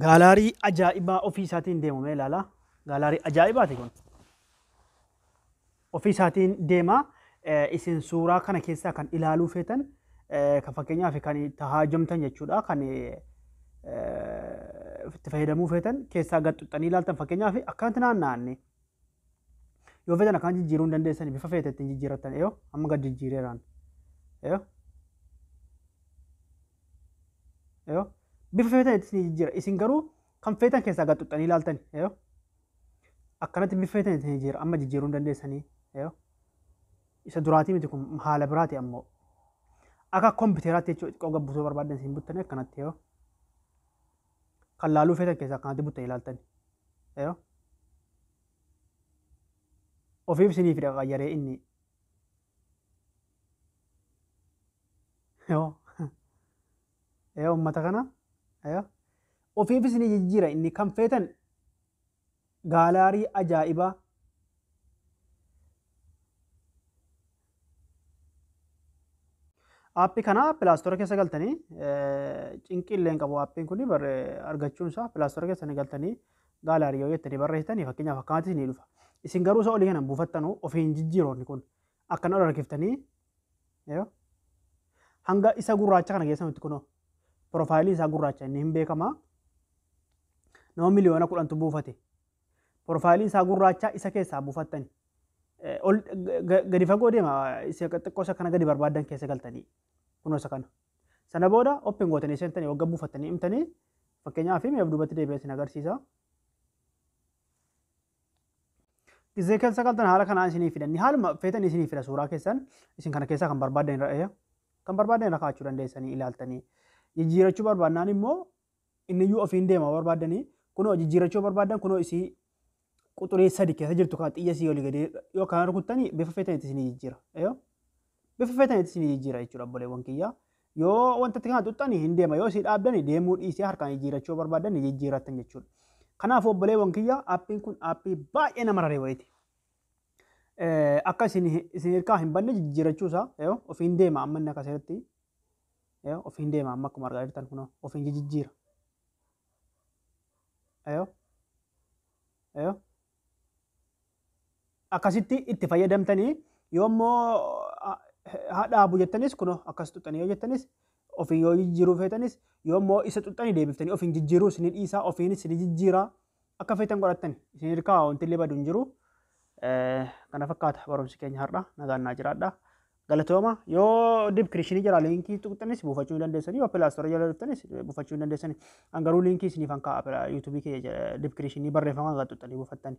Gaalaarii ajaa'ibaa ofii isaatiin deemu mee ilaala. Gaalaarii ajaa'ibaati kun. Ofii isaatiin deema. Eh, Isin suuraa kana keessaa kan ilaaluu feetan eh, kan fakkeenyaaf kan itti haajamtan jechuudha. Kan eh, itti fayyadamuu feetan keessaa gad xuxxanii ilaaltan fakkeenyaaf akkanatti naanna'anne Yoo feetan akkaan jijjiiruu hin dandeessani bifa feete ittiin jijjiirrattan eeyoo amma gad jijjiireeraan. Eeyoo. Eeyoo. Bifa feetan itti isin jijjiira isin garuu kan feetan keessaa gad xuxxanii ilaaltani eeyoo. Akkanatti bifa feetan itti jijjiira amma jijjiiruu hin dandeessanii eeyoo. Isa duraatii miti kun haala biraati ammoo. Akka kompiiteraatti jechuudha xiqqoo gabbisuu barbaaddan isin buttanii akkanatti eeyoo. kan laaluu feetan keessaa kanatti buttanii ilaaltani. Yoo ofiif isiniif hidha qayyaree inni yoo yoo uummata kana yoo ofiif isinii jijjiira inni kan feetan Gaalaarii ajaa'ibaa. Aappi kana pilaastora keessa galtanii cinqii illee hin qabu aappiin kun argachuun isaa pilaastora keessa ni galtanii gaalaarii yoo jettanii barreessitanii fakkeenyaaf akkaatti isinii dhufa. Isin garuu isa olii kana buufattanu ofiin jijjiiroonni kun akkana ol harkiftanii yoo hanga isa gurraacha kana keessa nutti kunoo piroofaayiliin isaa gurraacha inni hin beekamaa nama miliyoona kudhantu buufate piroofaayiliin isaa gurraacha isa keessaa buufattani Eh, ol ga- ga- gadi fagoo deema isa xiqqoo isa kana gadi barbaadan keessa galtanii kunoo isa kana sana booda open gootanii seentanii wagga buufattanii himtanii fakkeenyaaf mee of duubatti deebi'ee isin agarsiisa Gizee keessa galtan haala kanaan isinii fidanni haaluma feetan isinii fida suuraa keessan isin kana keessaa kan barbaadan irra eeya. Kan barbaadan irra kaa'achuu dandeessanii ilaaltanii. Jijjiirachuu barbaadnaan immoo inni iyyuu ofiin deema barbaadanii kunoo jijjiirachuu barbaadan kunoo isii quxurii sadi keessa jirtu kan xiyya isii olii gadee yoo kana rukuttanii bifa feetan itti isinii jijjiira. Eeyo. Bifa feetan itti isinii jijjiira jechuudha obboleewwan kiyyaa. Yoo wanta itti kana tuttani hin deema yoo si dhaabdani deemuu dhiisee harkaan jijjiirachuu yoo barbaaddan ni jijjiirrattan jechuudha. Kanaaf obboleewwan kiyya appiin kun appii baay'ee nama raree wayiiti. Akka isin isin hirkaa hin banne jijjiirachuu isaa yoo ofiin deema amma inni akka seeratti yoo ofiin deema amma akkuma argaa jirtan kunoo ofiin jijjiira. Yoo yoo akkasitti itti fayyadamtanii yoo immoo haa dhaabu jettanis kunoo akkas xuxxanii yoo jettanis ofiin yoo jijjiiruu feetanis yoo immoo isa xuxxanii deebiftanii ofiin jijjiiruu isin dhiisaa ofiinis isin jijjiiraa akka feetan godhattan isin hirkaa wanti illee badu hin jiru. Kana fakkaata barumsi keenya har'a nagaan naa jiraadha. Galatooma yoo dibkirishinii jira liinkii tuqxanis buufachuu ni dandeessanii yoo pilaastoora jala dhuftanis buufachuu ni dandeessanii an garuu liinkii isiniif an kaa'a yuutuubii kee dibkirishinii barreeffama kan tuqxanii buufattanii.